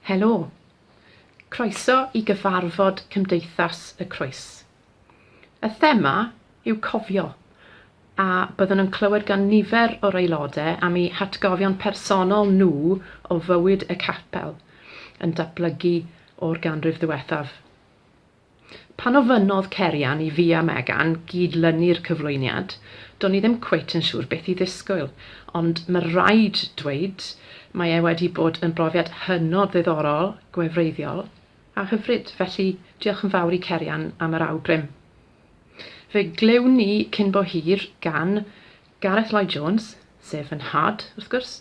Helo! Croeso i gyfarfod Cymdeithas y Croes. Y thema yw cofio, a byddwn yn clywed gan nifer o'r aelodau am eu hatgofion personol nhw o fywyd y capel yn datblygu o'r ganrif ddiwethaf. Pan ofynnodd Cerian i fi a Megan gyd-lynu'r cyflwyniad, do'n i ddim cweit yn siŵr beth i ddisgwyl, ond ma' raid dweud, mae e wedi bod yn brofiad hynod ddiddorol, gwefreiddiol a hyfryd, felly diolch yn fawr i Cerian am yr awgrym. Fe glywn ni cyn bo hir gan Gareth Lloyd Jones, sef fy nhad, wrth gwrs,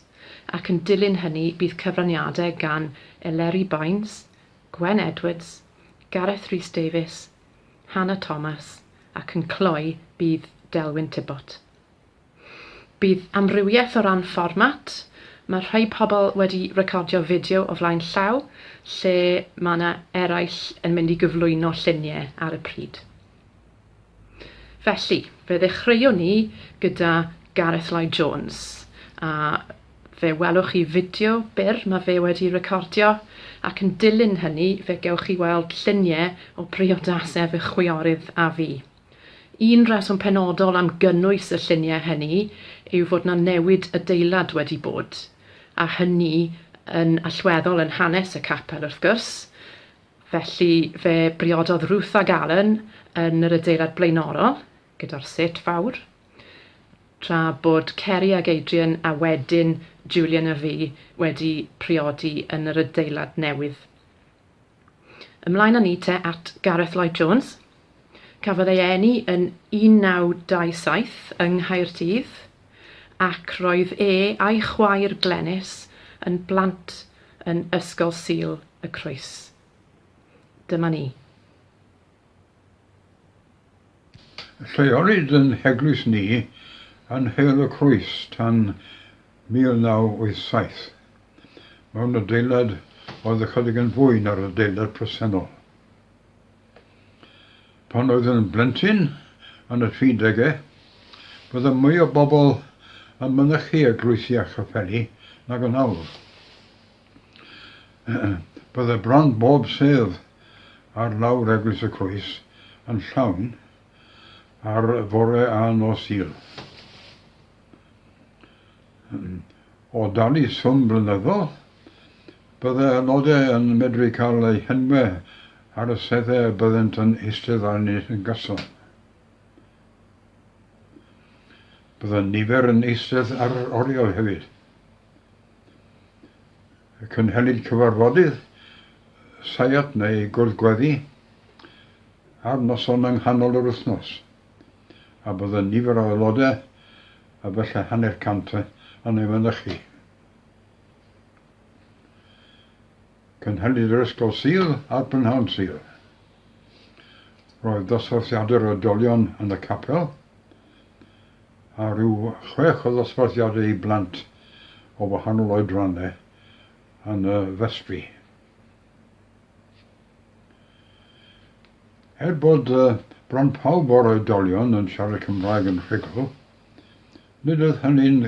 ac yn dilyn hynny bydd cyfraniadau gan Eleri Baines, Gwen Edwards, Gareth Rhys Davies, Hannah Thomas ac yn cloi bydd Delwyn Tibbot. Bydd amrywiaeth o ran fformat, mae rhai pobl wedi recordio fideo o flaen llaw lle mae 'na eraill yn mynd i gyflwyno lluniau ar y pryd. Felly, fe ddechreuwn ni gyda Gareth Lloyd Jones, a fe welwch chi fideo byr mae fe wedi recordio, ac yn dilyn hynny fe gewch chi weld lluniau o briodasau fy chwiorydd a fi. Un rheswm penodol am gynnwys y lluniau hynny yw fod 'na newid adeilad wedi bod, a hynny yn allweddol yn hanes y capel wrth gwrs, Felly fe briododd Ruth ag Alan yn yr adeilad blaenorol gyda'r set fawr, tra bod Ceri ag Adrian a wedyn Julian a fi wedi priodi yn yr adeilad newydd. Ymlaen â ni te at Gareth Lloyd Jones. Cafodd ei eni yn 1927 yng Nghaerdydd ac roedd e a'i chwaer Glenys yn blant yn Ysgol Sul y Croes. Dyma ni. Lleolid yn Heglwys Ni yn Nheul y Croes tan 1987, mewn adeilad oedd ychydig yn fwy na'r adeilad presennol. Pan oedd yn blentyn yn y tri degau, roedd y mwy o bobl yn mynychu eglwysi a chaffeli nag yn awr. Bydde bron bob sedd ar lawr Eglwys y Croes yn llawn ar fore a nos Sul. O dan y swm blynyddol, byddai aelodau yn medru cael eu henwau ar y seddau a byddent yn eistedd arni yn gyson. Byddai nifer yn eistedd ar yr oriel hefyd. Cynhelid cyfarfodydd seiat neu gwrdd-gweddi ar noson yng nghanol yr wythnos. a bod y nifer o aelodau, efallai hanner cant yn ei fynychu. Cynhaliwyd yr Ysgol Sul a'r Prynhawn Sul. Roedd dosbarthiadau'r oedolion yn y capel, a rhyw chwech o ddosbarthiadau i blant o wahanol oedrannau yn y festri. Er bod bron pawb o'r oedolion yn siarad Cymraeg yn rhugl, nid oedd hynny'n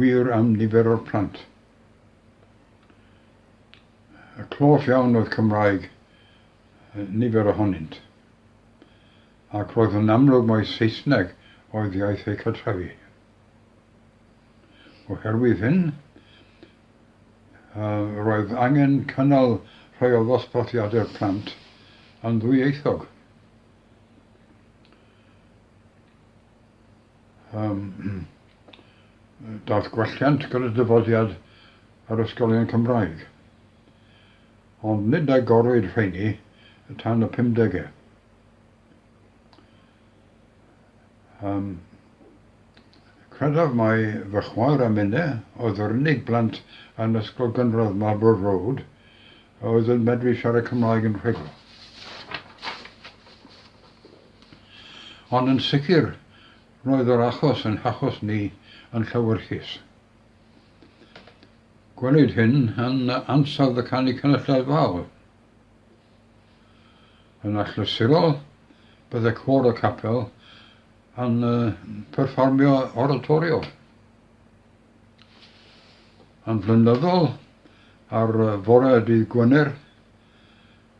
wir am nifer o'r plant. A clos iawn oedd Cymraeg nifer ohonynt, ac roedd yn amlwg mai Saesneg oedd iaith eu cartrefi. Oherwydd hyn, roedd angen cynnal rhai o ddosbarthiadau'r plant yn ddwyieithog. Daeth gwelliant gyda dyfodiad yr ysgolion Cymraeg, ond nid agorwyd rheiny tan y pumdegau. Yym, credaf mai fy chwaer a minne oedd yr unig blant yn ysgol gynradd Marlborough Road a oedd yn medru siarad Cymraeg yn rhugl. Ond yn sicr, roedd yr achos yn hachos ni yn llewyrchus. Gwelid hyn yn ansawdd y canu cynulleidfaol. Yn achlysurol, bydde cor y capel yn perfformio oratorio. Yn flynyddol, ar fore y dydd Gwener,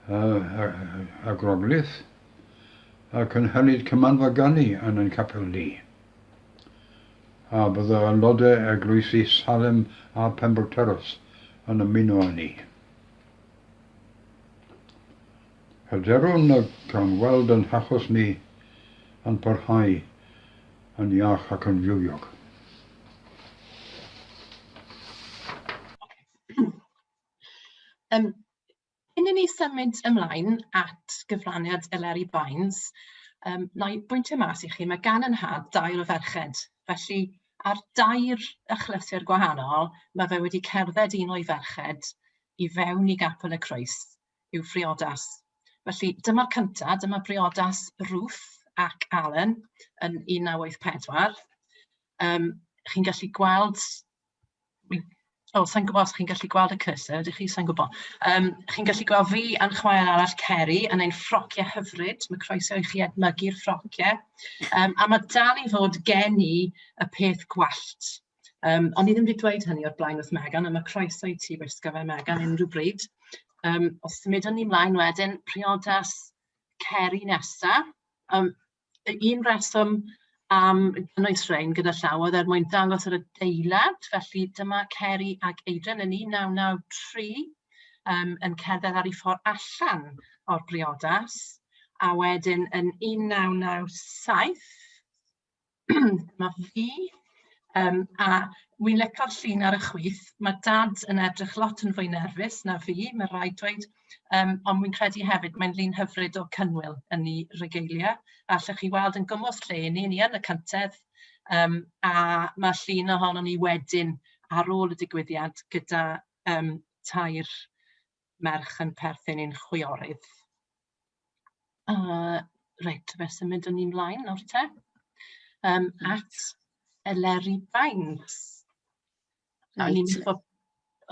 a groglith, a cynhelid cymanfa ganu yn ein capel ni. A bydda aelodau eglwysi Salem a Pembroke Terrace yn ymuno â ni. Hyderwn y cawn weld ein hachos ni yn parhau yn iach ac yn fywiog. Um, cyn i ni symud ymlaen at gyfraniad Eleri Baines, um, na i bwyntio mas i chi, mae gan yn had dair o ferched, felly Ar dair achlysur gwahanol, mae fe wedi cerdded un o'i ferched i fewn i Gapel y Croes, i'w phriodas. Felly, dyma'r cyntaf, dyma briodas Ruth ac Alan yn 1984. Um, chi'n gallu gweld Wi'n... O, sa i'n gwybod os chi'n gallu gweld y cursor, ydych chi? Sa i'n gwybod. Yym, chi'n gallu gweld fi a'n chwaer arall Ceri yn ein ffrociau hyfryd. Mae croeso i chi edmygu'r ffrociau. Yym, a mae dal i fod gen i y peth gwallt. Yym, o'n i ddim wedi dweud hynny o'r blaen wrth Megan, ond mae croeso i ti wisgo fe Megan unrhyw bryd. Yym, os symudwn ni mlaen wedyn, priodas Ceri nesa. Yym... y un rheswm am gynnwys rhein gyda llaw oedd er mwyn dangos yr adeilad. Felly dyma Ceri ac Adrian yn 1993 um, yn cerdded ar ei ffordd allan o'r briodas. A wedyn yn 1997, dyma fi, um, a wi'n lecor llun ar y chwith. Mae dad yn edrych lot yn fwy nerfus na fi, mae rhaid dweud. Yym, ond wi'n credu hefyd mae'n llun hyfryd o cynnwyl yn ei regalia. A allwch chi weld yn gwmws lle 'y ni, ni yn y cyntedd. Yym, a ma' llun ohonon ni wedyn ar ôl y digwyddiad gyda yym tair merch yn perthyn i'n chwiorydd. Yy reit, fe symud â ni mlaen nawr te yym at Eleri Baines. Reit. O'n i'n mynd i fod...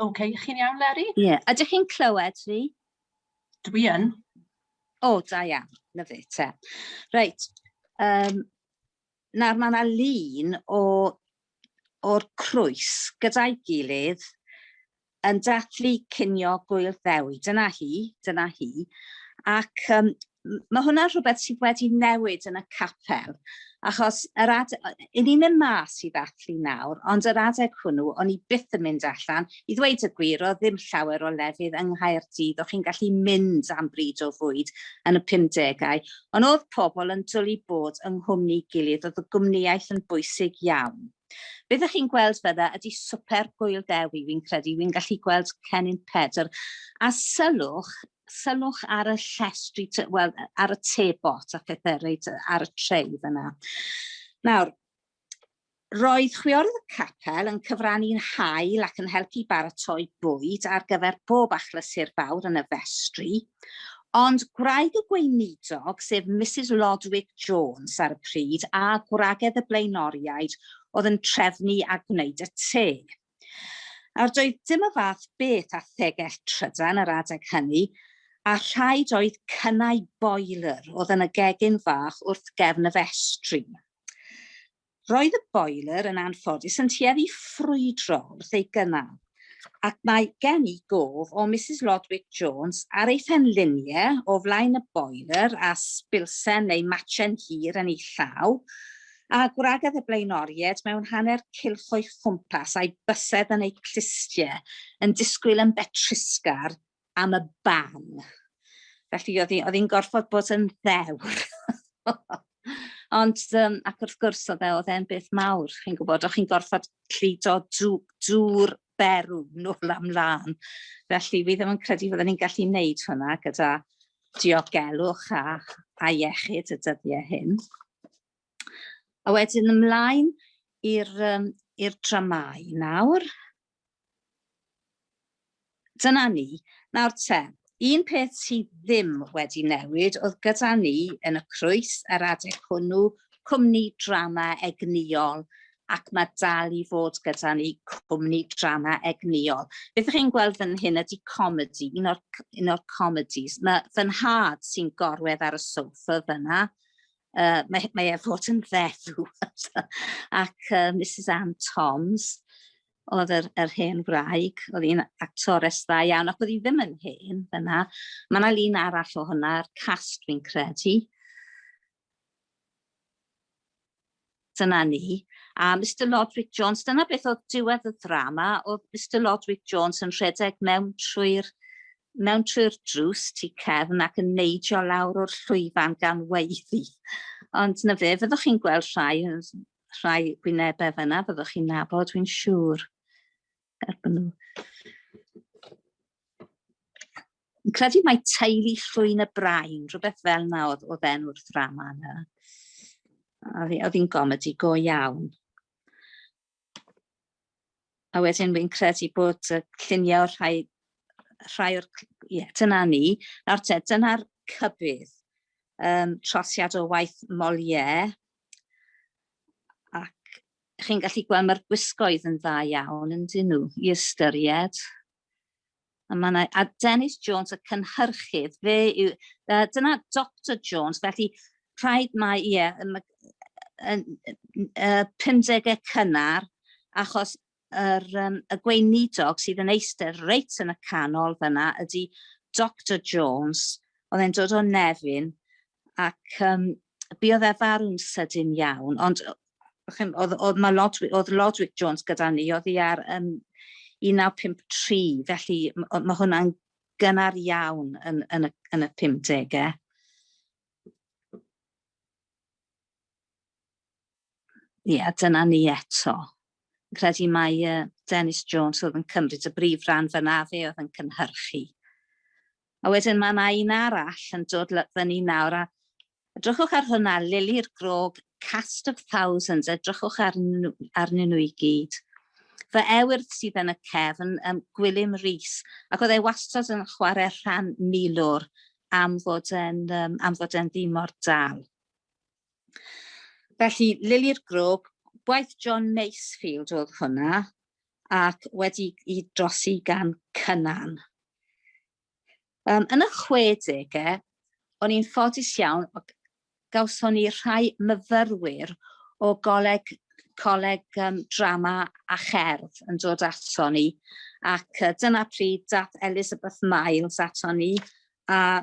Ok, chi'n iawn Leri? Ie, ydych chi'n clywed fi? Dwi yn. O, oh, da iawn, lyfu te. Reit, um, nawr mae yna lun o o'r crwys gyda'i gilydd yn dathlu cinio gwyl ddewi. Dyna hi, dyna hi. Ac um, mae hwnna rhywbeth sydd wedi newid yn y capel, achos yr ad... i ni'n mynd mas i ddathlu nawr, ond yr adeg hwnnw, o'n i byth yn mynd allan. I ddweud y gwir, oedd ddim llawer o lefydd yng Nghaerdydd o'ch chi'n gallu mynd am bryd o fwyd yn y 50au, ond oedd pobl yn dwlu bod yng nghwmni gilydd, oedd y gwmnïaeth yn bwysig iawn. Beth ych chi'n gweld fydda ydy swper Gŵyl Dewi, fi'n credu, fi'n gallu gweld Cennin Pedr, a sylwch, sylwch ar y llestri, wel, ar y tebot a phethau reit ar y treu fyna. Nawr, roedd chwiorydd y capel yn cyfrannu'n hael ac yn helpu baratoi bwyd ar gyfer bob achlysur fawr yn y festri, ond gwraig y gweinidog, sef Mrs Lodwick Jones ar y pryd, a gwragedd y blaenoriaid oedd yn trefnu a gwneud y te. Nawr, doedd dim y fath beth â thegell trydan yr adeg hynny, a rhaid oedd cynnau boiler oedd yn y gegin fach wrth gefn y festri. Roedd y boiler yn anffodus yn tueddu ffrwydro wrth ei gynnal, ac mae gen i gof o Misus Lodwick Jones ar ei phenliniau o flaen y boiler a sbilsen neu matsen hir yn ei llaw, A gwragedd y blaenoriaid mewn hanner cylch o'i chwmpas, a'i bysedd yn eu clustie, yn disgwyl yn betrusgar am y ban. Felly, oedd hi'n hi gorfod bod yn ddewr. Ond, um, ac wrth gwrs, oedd e, oedd e'n beth mawr, chi'n gwybod, o'ch chi'n gorfod llido drwy'r berw nôl am lan. Felly, fi ddim yn credu fydden ni'n gallu wneud hwnna gyda diogelwch a, a iechyd y dyddiau hyn. A wedyn ymlaen i'r um, i'r dramau nawr. Dyna ni. Nawr te, Un peth sydd ddim wedi newid oedd gyda ni yn y crwys yr adeg hwnnw, cwmni drama egnïol, ac mae dal i fod gyda ni cwmni drama egnïol. Beth ych chi'n gweld fan hyn ydy comedi, un o'r, un o'r comedis. Mae fy nhad sy'n gorwedd ar y sofa fyna, uh, mae, mae e fod yn feddw, ac uh, Mrs Anne Toms, oedd yr, yr hen wraig, oedd hi'n actores dda iawn, ac oedd hi ddim yn hen fyna. Mae yna lun arall o hwnna, yr cast fi'n credu. Dyna ni. A Mr Lodwick Jones, dyna beth oedd diwedd y ddrama, oedd Mr Lodwick Jones yn rhedeg mewn trwy'r mewn trwy'r drws tu cefn ac yn neidio lawr o'r llwyfan gan weiddi. Ond na fe, fyddwch chi'n gweld rhai rhai gwynebau fyna, byddwch chi'n nabod, dwi'n siŵr. Erbyn nhw. Yn credu mae teulu llwyn y brain, rhywbeth fel na oedd, oedd enw'r ddrama yna. Oedd hi'n gomedi go iawn. a wedyn fi'n credu bod y lluniau o'r rhai, rhai o'r, ie, yeah, dyna ni. Nawr te, dyna'r cybydd. Um, trosiad o waith Molière, ac chi'n gallu gweld mae'r gwisgoedd yn dda iawn yn dyn nhw i ystyried. A mae yna, a Dennis Jones, y cynhyrchydd, fe yw, uh, dyna Dr Jones, felly rhaid mae, ie, yeah, yn, uh, 50au cynnar, achos yr, um, y gweinidog sydd yn eistedd reit yn y canol fyna ydy Dr Jones, oedd e'n dod o Nefyn, ac um, buodd e farw'n sydyn iawn, ond oedd, oedd, mae Lodwick, oedd Lodwick Jones gyda ni, oedd hi ar um, 1953, felly mae hwnna'n gynnar iawn yn, yn, y, yn y 50au. Ie, yeah, dyna ni eto. Credu mae uh, Dennis Jones oedd yn cymryd y brif ran fyna fe oedd yn cynhyrchu. A wedyn mae yna un arall yn dod ly- fyny nawr, a edrychwch ar hwnna, Lili'r Grog, Cast of Thousands, edrychwch arnyn nhw, arnyn nhw i gyd. Fy ewyrth sydd yn y cefn, um, Gwilym Rees, ac oedd e wastad yn chwarae rhan milwr am fod e'n, um, am fod e'n ddimor dal. Felly, Lili'r Grwg, gwaith John Masefield oedd hwnna, ac wedi i drosi gan Cynan. Um, yn y 60au, o'n i'n ffodus iawn, gawson ni rhai myfyrwyr o goleg, coleg um, drama a cherdd yn dod ato ni, ac uh, dyna pryd dath Elizabeth Miles ato ni, a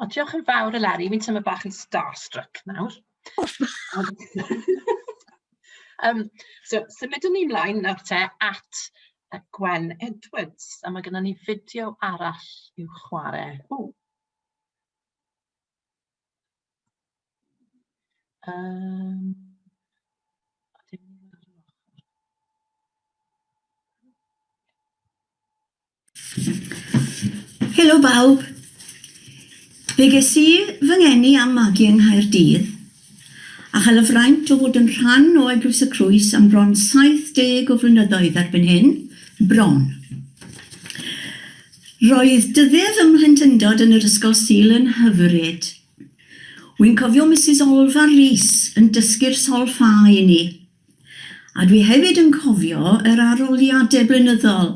O, diolch yn fawr Eleri, fi'n teimlo bach yn starstruck nawr. um, so, symudwn ni mlaen nawr te at y Gwen Edwards, a mae gennym ni fideo arall i'w chwarae. O. Um, Helo bawb. Fe ges i fy ngeni a'm magu yng Nghaerdydd a chael y fraint o fod yn rhan o Eglwys y Crwys am bron 70 o flynyddoedd erbyn hyn, bron. Roedd dyddie fy mhlentyndod yn yr Ysgol Sul yn hyfryd. Wi'n cofio Misus Olfar Rees yn dysgu'r solffa i ni. A dwi hefyd yn cofio yr aroliade blynyddol.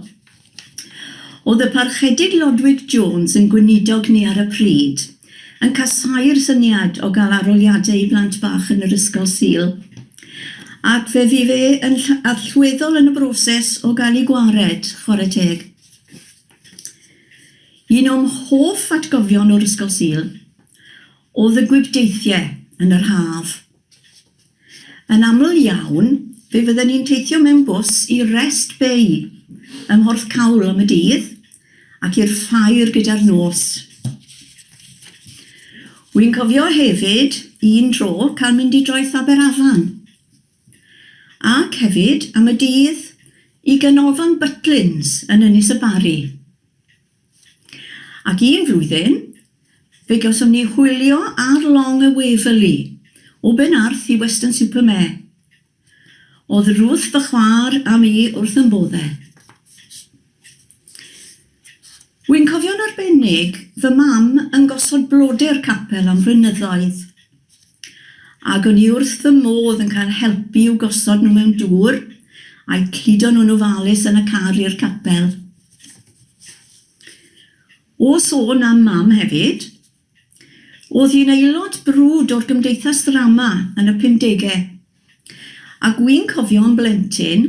O'dd y Parchedig Lodwig Jones yn gweinidog ni ar y pryd, yn casau'r syniad o ga'l aroliade i blant bach yn yr Ysgol Sul. Ac fe fu fe yn ll- allweddol yn y broses o ga'l 'i gwared, chware teg. Un o'm hoff atgofion o'r Ysgol Sul, o'dd y gwibdeithie yn yr haf. Yn aml iawn, fe fydden ni'n teithio mewn bws i Rest Bay ym Mhorthcawl am y dydd ac i'r Ffair gyda'r nos. Wi'n cofio hefyd un tro cael mynd i Droed Faberafan ac hefyd am y dydd i Ganolfan Butlins yn Ynys y Barri. Ac un flwyddyn, fe gawsom ni hwylio ar long y Waverley, o Ben Arth i Weston-super-Mare. O'dd Ruth fy chwaer a mi wrth yn bodde. Wi'n cofio'n arbennig fy mam yn gosod blodeu'r capel am flynyddoedd, ag o'n i wrth fy modd yn cael helpu i'w gosod nhw mewn dŵr, a'u cludo nhw'n ofalus yn y car i'r capel. O sôn am Mam hefyd, o'dd hi'n aelod brwd o'r Gymdeithas Ddrama yn y pumdege, a gwi'n cofio yn blentyn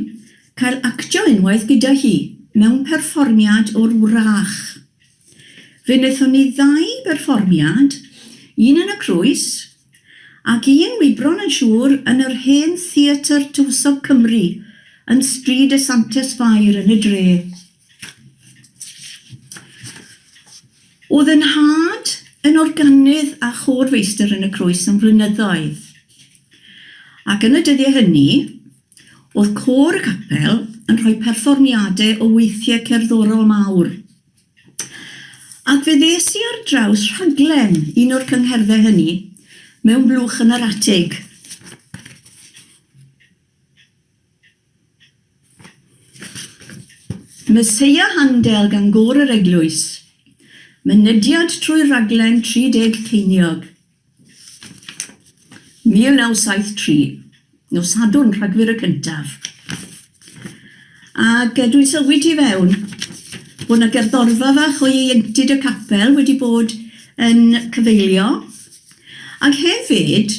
cael actio unwaith gyda hi mewn perfformiad o'r Wrach. Fe nethon ni ddau berfformiad, un yn y Crwys Ac un wybron yn siŵr yn yr hen Theatr Tywysog Cymru yn Stryd y Santes Fair yn y dre. O'dd y nhad yn organydd a chôr-feistr yn y Crwys am flynyddoedd. Ac yn y dyddie hynny, o'dd côr y capel yn rhoi perfformiade o weithie cerddorol mawr. Ac fe ddes i ar draws rhaglen un o'r cyngherddau hynny mewn blwch yn yr atig. Meseia Handel gan Gôr yr Eglwys. Mynediad trwy'r rhaglen 30 ceiniog. 1973, nos Sadwrn, Rhagfyr y cyntaf. Ac e, dwi'n sylwi tu fewn bod 'na gerddorfa fach o ieuenctid y capel wedi bod yn cyfeilio. Ac hefyd,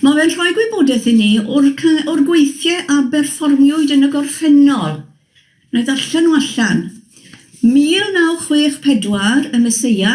mae fe'n rhoi gwybodaeth i ni o'r o'r gweithiau a berfformiwyd yn y gorffennol. Wna i ddarllen nhw allan. 1964, Y Meseia.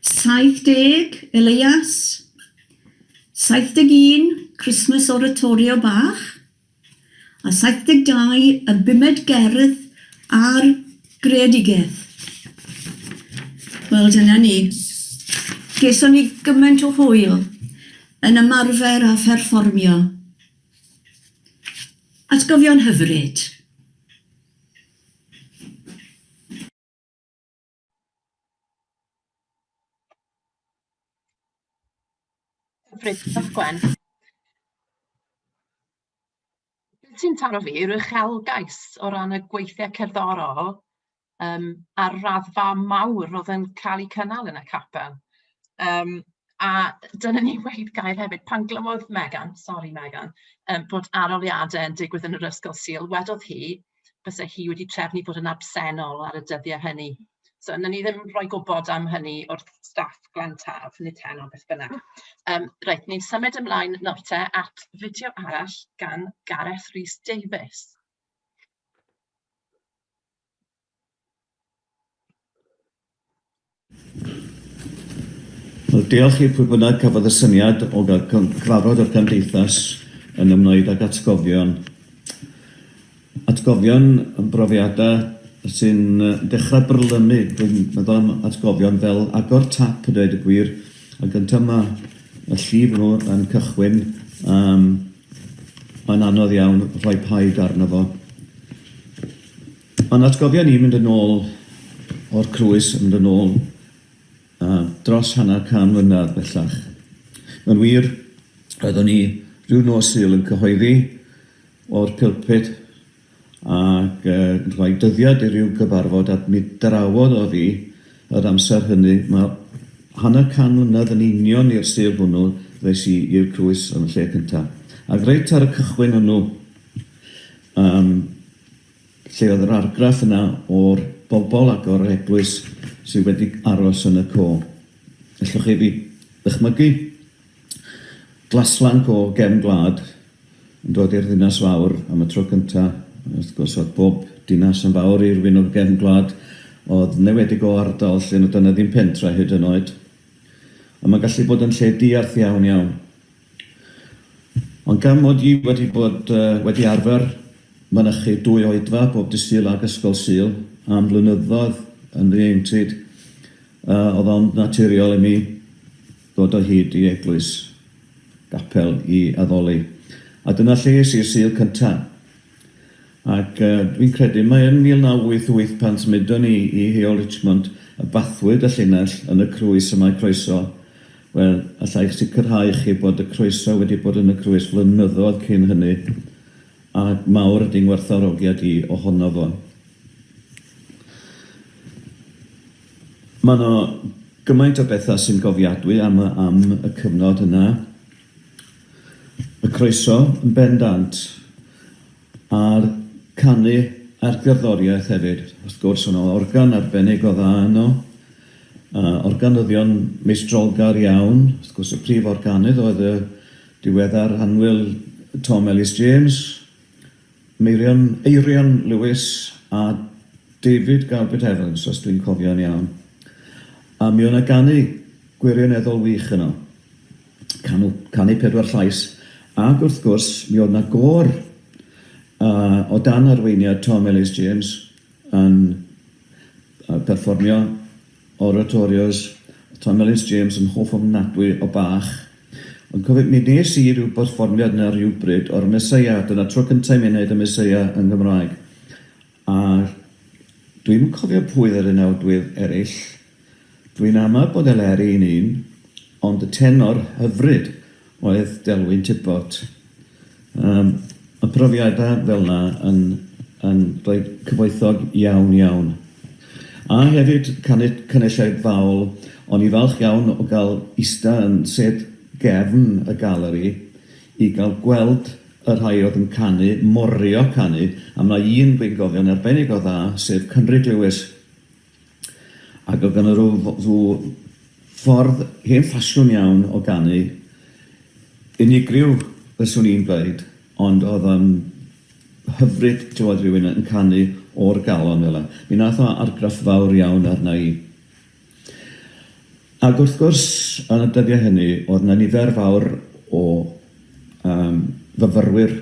70, Elias. 71, Christmas Oratorio bach. A 72, y bumed gerdd ar greadigaeth. Wel, dyna ni. Geson ni gymaint o hwyl yn ymarfer a pherfformio. Atgofion hyfryd. Hyfryd, diolch Gwen. Beth sy'n taro fi yw'r uchelgais o ran y gweithiau cerddorol um, a'r raddfa mawr oedd yn cael eu cynnal yn y capel. Um, a dyna ni wedi gair hefyd, pan glywodd Megan, sori Megan, um, bod aroliadau yn digwydd yn yr ysgol Sil, wedodd hi, byse hi wedi trefnu bod yn absennol ar y dyddiau hynny. So wnawn ni ddim rhoi gwybod am hynny wrth staff Glan Taf, nid heno beth bynnag. Um, reit, ni'n symud ymlaen nawr te at fideo arall gan Gareth Rhys Davies. Wel, diolch i pwy bynnag cafodd y syniad o gael cyfarfod o'r Gymdeithas yn ymwneud ag atgofion. Atgofion yn brofiadau sy'n dechrau brylymu, dwi'n meddwl am atgofion fel agor tap a dweud y gwir, a gyntaf mae y llif nhw yn cychwyn, um, mae'n anodd iawn rhoi paid arno fo. O'n atgofion i'n mynd yn ôl o'r crwys yn mynd yn ôl uh, dros hanner can mlynedd bellach. Yn wir, roeddwn i rhyw nos Sul yn cyhoeddi o'r pilpid ac uh, rhoi dyddiad i ryw gyfarfod a mi drawodd o fi yr amser hynny. Mae hanner can mlynedd yn union i'r Sul hwnnw ddes i i'r crwys yn y lle cyntaf. Ac reit ar y cychwyn hwnnw, um, Lle oedd yr argraff yna o'r bobl ac o'r eglwys sydd wedi aros yn y co? Ellwch chi fi ddychmygu glaslanc o gefn gwlad yn dod i'r ddinas fawr am y tro cynta. Wrth gwrs, oedd bob dinas yn fawr i'r wyn o'r gefn gwlad, oedd newedig o ardal lle nad oedd 'na ddim pentra hyd yn oed. Ond mae'n gallu bod yn lle diarth iawn iawn. Ond gan mod i wedi bod wedi arfer mynychu dwy oedfa bob dydd Sul ac Ysgol Sul am flynyddoedd yn ddieintyd, oedd ond naturiol i mi ddod o hyd i eglwys, gapel, i addoli. A dyna lle es i i'r Sul cynta. Ac fi'n credu mai yn 1988 pan symudon ni i Heol Richmond y bathwyd y llinell yn y crwys y mae croeso, wel, alla i'ch sicrhau i chi bod y croeso wedi bod yn y crwys flynyddoedd cyn hynny, a mawr ydy ngwerthfawrogiad i ohono fo. Mae 'na gymaint o bethau sy'n gofiadwy am y am y cyfnod yna. Y croeso yn bendant. Ar canu a'r gerddoriaeth hefyd wrth gwrs, o' 'na organ arbennig o dda yno, a organyddion meistrolgar iawn, wrth gwrs y prif organydd oedd y diweddar annwyl Tom Ellis James, Meirion, Eirion Lewis a David Garbett Evans os dwi'n cofio'n iawn. A mi o' 'na ganu gwirioneddol wych yno. Canu, canu pedwar llais, ac wrth gwrs, mi oedd 'na gôr uh, o dan arweiniad Tom Ellis James yn uh, perfformio oratorios Tom Ellis James yn hoff ofnadwy o Bach. Ond cofio, mi nes i rhyw berfformiad na rhywbryd o'r Meseia, dyna tro cyntaf i mi wneud y Meseia yn Gymraeg. A dwi'm yn cofio pwy yr unawdwydd ereill, dwi'n ama bod Eleri yn un, ond y tenor hyfryd oedd Delwyn Tibbot. Yym, ma' profiada fel 'na yn yn rhoi cyfoethog iawn iawn. A hefyd canu caneushau Faul, o'n i falch iawn o ga'l ista yn sêt gefn y galeri i ga'l gweld y rhai oedd yn canu, morio canu, a mae un gweinigofion arbennig o dda, sef Cynrig Lewis, ac oedd ganddo rhyw rhyw ffordd hen ffasiwn iawn o ganu, unigryw fyswn i'n dweud, ond oedd o'n hyfryd clywed rhywun yn canu o'r galon fel 'na. Mi nath o argraff fawr iawn arna i. Ac wrth gwrs, yn y dyddiau hynny, oedd yna nifer fawr o yym fyfyrwyr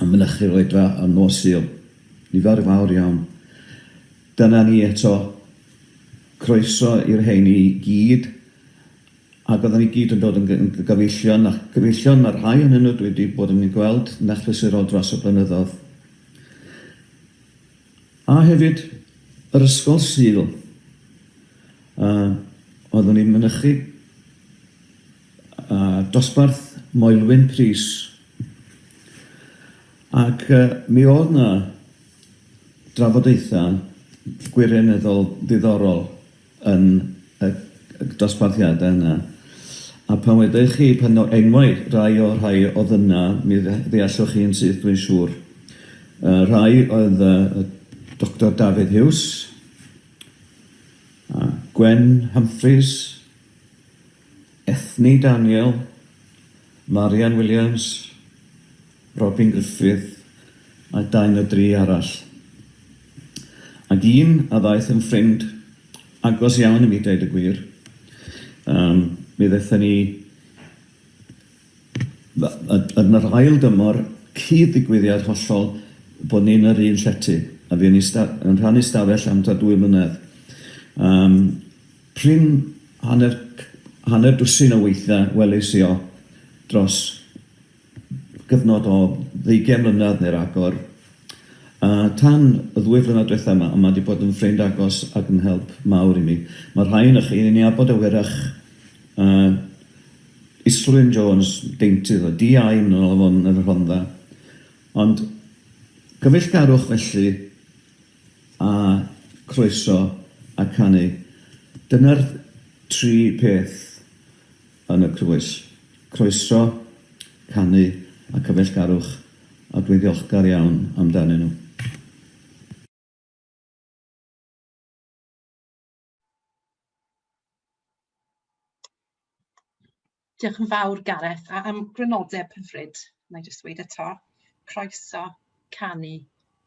yn mynychu'r Oedfa yn nos Sul. Nifer fawr iawn. Dyna ni eto. Croeso i'r rheiny i gyd. Ac oedden ni gyd yn dod yn gy- yn gyfeillion, a gyfeillion mae rhai ohonyn nhw dwi 'di bod yn eu gweld yn achlysurol dros y blynyddoedd. A hefyd yr Ysgol Sul, a oeddwn ni'n mynychu a dosbarth Moelwyn Prys, ac yy mi o'dd 'na drafodaetha' gwirioneddol ddiddorol yn y dosbarthiadau yna. A pan wedech chi, pan o enwau rai o'r rhai oedd yna, mi ddeallwch chi yn syth dwi'n siŵr. Y rhai oedd y Doctor Dafydd Huws, a Gwen Humphreys, Anthony Daniel, Marian Williams, Robin Griffith a dau na dri arall. Ac un a ddaeth yn ffrind agos iawn i mi deud y gwir. Um, mi ddethon ni yn yr ail dymor cyd-ddigwyddiad hollol bod ni'n yr un llety a fuon ni yn rhannu stafell am ta dwy mlynedd. Um, Prin hanner hanner dwsin o weithiau welis i o dros gyfnod o ddeugain mlynedd neu ragor. A tan y ddwy flynedd diwetha' 'ma, mae 'di bod yn ffrind agos ac yn help mawr i mi. Mae'r rhai onoch chi yn ei nabod e wyrach a Islwyn Jones, deintydd o DI yn ôl afon yn y Rhondda. Ond cyfeillgarwch felly a croeso a canu. Dyna'r tri peth yn y crwys. Croeso, canu a cyfeillgarwch a dwi'n ddiolchgar iawn amdanyn nhw. Diolch yn fawr Gareth a am grynodeb hyfryd, wna i jyst dweud eto, croeso canu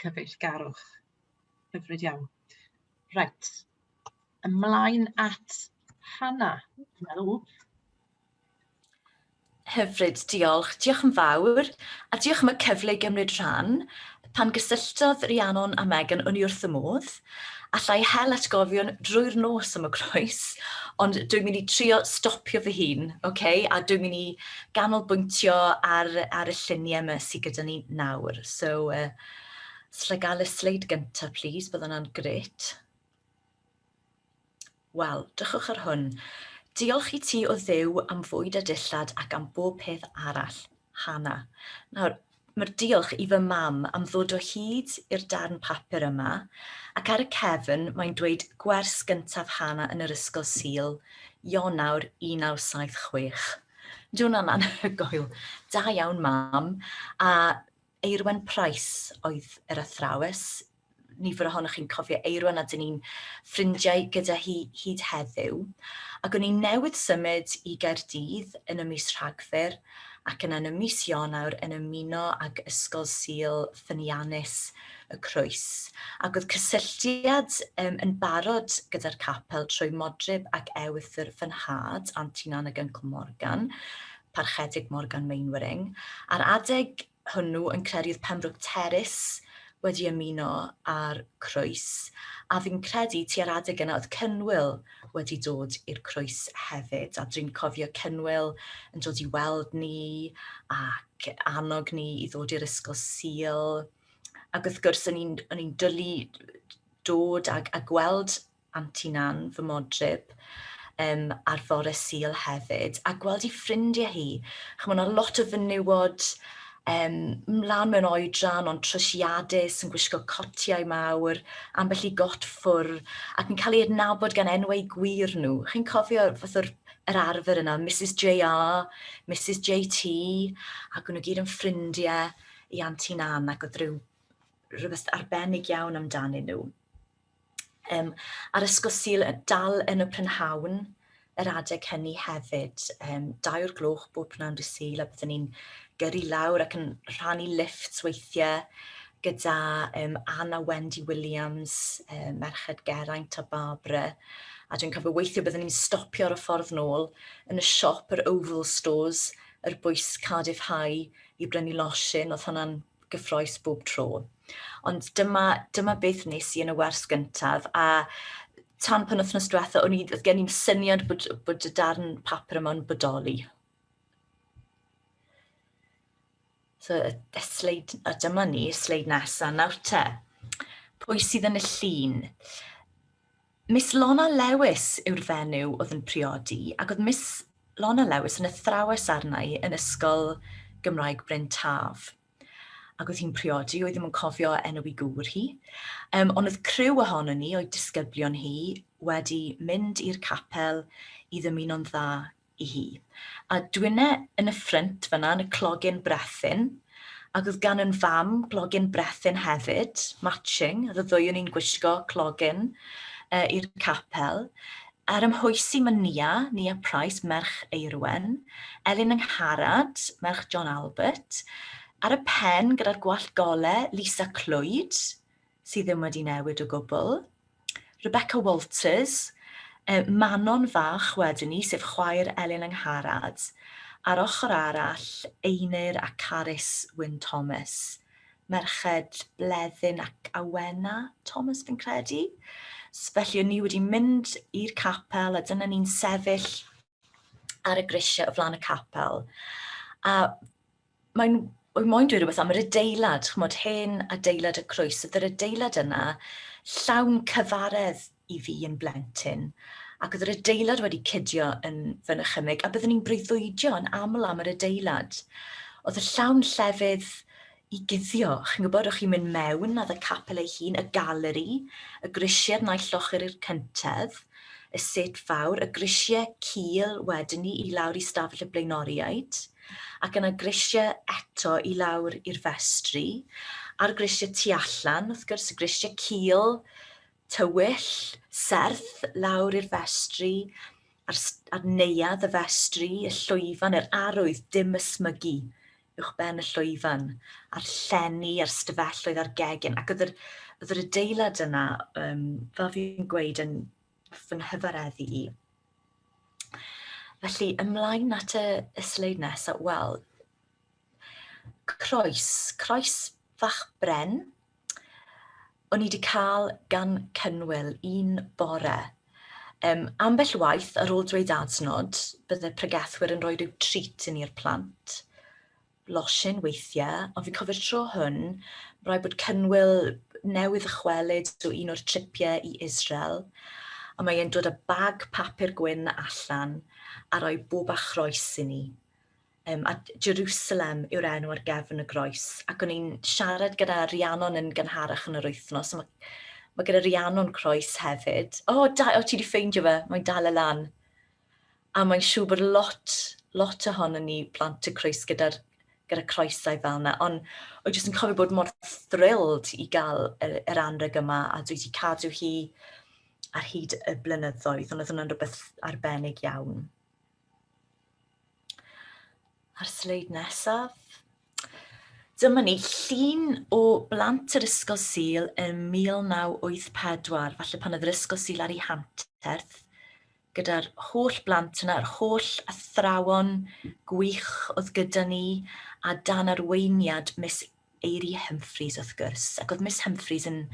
cyfeillgarwch. Hyfryd iawn. Reit, ymlaen at Hannah, dwi'n meddwl. Hyfryd, diolch. Diolch yn fawr, a diolch am y cyfle i gymryd rhan. Pan gysylltodd Rhiannon a Megan, o'n i wrth y modd. Allai hel atgofion drwy'r nos am y croes, ond dwi'n mynd i trio stopio fy hun, okay? a dwi'n mynd i ganolbwyntio ar, ar y lluniau yma sydd gyda ni nawr. So, uh, slagael y sleid gyntaf, please, bydd hwnna'n gret. Wel, drychwch ar hwn. Diolch i ti o Dduw am fwyd a dillad ac am bob peth arall. Hana. Nawr, mae'r diolch i fy mam am ddod o hyd i'r darn papur yma, ac ar y cefn mae'n dweud gwers gyntaf Hana yn yr ysgol Sul, Ionawr 1976. Ydy hwnna'n anhygoel. Da iawn mam. A Eirwen Price oedd yr athrawes, nifer ohonoch chi'n cofio Eirwan a dyn ni'n ffrindiau gyda hi hyd heddiw. Ac o'n i newydd symud i Gaerdydd yn y mis Rhagfyr ac yna yn y mis Ionawr yn ymuno ag Ysgol Sul Ffyniannus y Croes. Ac oedd cysylltiad um, yn barod gyda'r capel trwy Modryb ac Ewythr fy nhad, Antinan ac Uncle Morgan, Parchedig Morgan Mainwaring, a'r adeg hwnnw yn credu oedd Pembroke Terrace wedi ymuno â'r Croes, a fi'n credu tua'r adeg yna oedd Cynwyl wedi dod i'r Croes hefyd, a dwi'n cofio Cynwyl yn dod i weld ni ac annog ni i ddod i'r Ysgol Sul, ac wrth gwrs o'n i'n dwlu dod a gweld Antinan, fy modryb, um, ar fore Sul hefyd, a gweld ei ffrindiau hi. Chymod, yna lot o fenywod um, mlaen mewn oedran, ond trwsiadus, yn gwisgo cotiau mawr, ambell i got ffwr, ac yn cael ei adnabod gan enwau gwir nhw. Chi'n cofio fath o'r yr arfer yna, Mrs JR, Mrs JT, ac nhw gyd yn ffrindiau i Antinan, ac oedd rhyw rhywbeth arbennig iawn amdanyn nhw. Um, a'r ysgol syl y dal yn y prynhawn yr adeg hynny hefyd. Um, dau o'r gloch bob prynhawn dy syl a byddwn ni'n gyrru lawr ac yn rhannu lift weithiau gyda um, Anna Wendy Williams, um, Merched Geraint a Barbara. A dwi'n cofio weithio byddwn ni'n stopio ar y ffordd nôl yn y siop, yr Oval Stores, yr bwys Cardiff High i brynu losin. Oedd hwnna'n gyffroes bob tro. Ond dyma, dyma beth nes i yn y wers gyntaf, a tan pan wythnos diwetha, o'n i, oedd gen i'n syniad bod, bod y darn papur yma'n bodoli. So, y, y sleid, a dyma ni, sleid nesaf, nawr te. Pwy sydd yn y llun? Miss Lona Lewis yw'r fenyw oedd yn priodi ac oedd Miss Lona Lewis yn athrawes arna i yn Ysgol Gymraeg Bryn Taf. Ac oedd hi'n priodi, oedd ddim yn cofio enw i gŵr hi. Um, ond oedd criw ohono ni, o'i disgyblion hi, wedi mynd i'r capel i ddymuno'n dda i hi. A dwynne yn y ffrynt fan'na yn y clogyn brethyn, ac oedd gan yn fam glogyn brethyn hefyd, matching, oedd y ddwy o'n i'n gwisgo clogyn uh, i'r capel. Ar ymhoesi mae Nia, Nia Price, merch Eirwen, Elin Yngharad, merch John Albert, ar y pen gyda'r gwallt gole, Lisa Clwyd, sydd ddim wedi newid o gwbl. Rebecca Walters, y Manon fach wedyn ni, sef chwaer Elin Angharad. Ar ochr arall, Einir a Carys Wyn Thomas, merched Bleddyn ac Awena Thomas fi'n credu. Felly o'n ni wedi mynd i'r capel a dyna ni'n sefyll ar y grisiau o flaen y capel. A mae'n Wel, moyn dweud rhywbeth am yr adeilad, chymod, hen adeilad y croes, oedd yr adeilad yna llawn cyfaredd i fi yn blentyn, ac oedd yr adeilad wedi cydio yn fy nychymyg, a byddwn ni'n breuddwydio yn aml am yr adeilad. Oedd y llawn llefydd i guddio, chi'n gwybod, o'ch chi'n mynd mewn, oedd y capel ei hun, y galeri, y grisiau naill llocher i'r cyntedd, y set fawr, y grisiau cul wedyn ni i lawr i stafell y blaenoriaid, ac yna grisiau eto i lawr i'r festri, a'r grisiau tu allan, wrth gwrs, y grisiau cul, tywyll, serth, lawr i'r festri, a'r, a'r neuad, y festri, y llwyfan, yr arwydd, dim ysmygu uwchben y llwyfan, a'r llenni a'r stafelloedd a'r gegin, ac oedd yr, oedd yr adeilad yna, um, fel fi'n gweud, yn fy nghyfareddu i. Felly, ymlaen at y, y sleid nesaf, wel, croes, croes fach bren, o'n i wedi cael gan Cynwyl un bore. Um, ambell waith, ar ôl dweud adnod, bydde pregethwyr yn rhoi rhyw treat i ni'r plant. Losin weithiau, ond fi'n cofio'r tro hwn, rhaid bod Cynwyl newydd ychwelyd o un o'r tripiau i Israel, a mae e'n dod â bag papur gwyn allan a rhoi bob achroes i ni. um, a Jerusalem yw'r enw ar gefn y groes. Ac o'n i'n siarad gyda Rhiannon yn gynharach yn yr wythnos, mae, mae gyda Rhiannon croes hefyd. O, oh, da, o oh, ti wedi ffeindio fe, mae'n dal y lan. A mae'n siŵr bod lot, lot ohono ni plant y croes gyda'r gyda croesau fel yna, ond o jyst yn cofio bod mor thrilled i gael yr, yr anreg yma a dwi wedi cadw hi ar hyd y blynyddoedd, ond oedd hwnna'n rhywbeth arbennig iawn. A'r sleid nesaf. Dyma ni llun o blant yr Ysgol Sil yn 1984, falle pan oedd yr Ysgol Sil ar ei hanterth, gyda'r holl blant yna, yr holl athrawon gwych oedd gyda ni, a dan arweiniad Miss Eiri Humphreys wrth gwrs. Ac oedd Miss Humphreys yn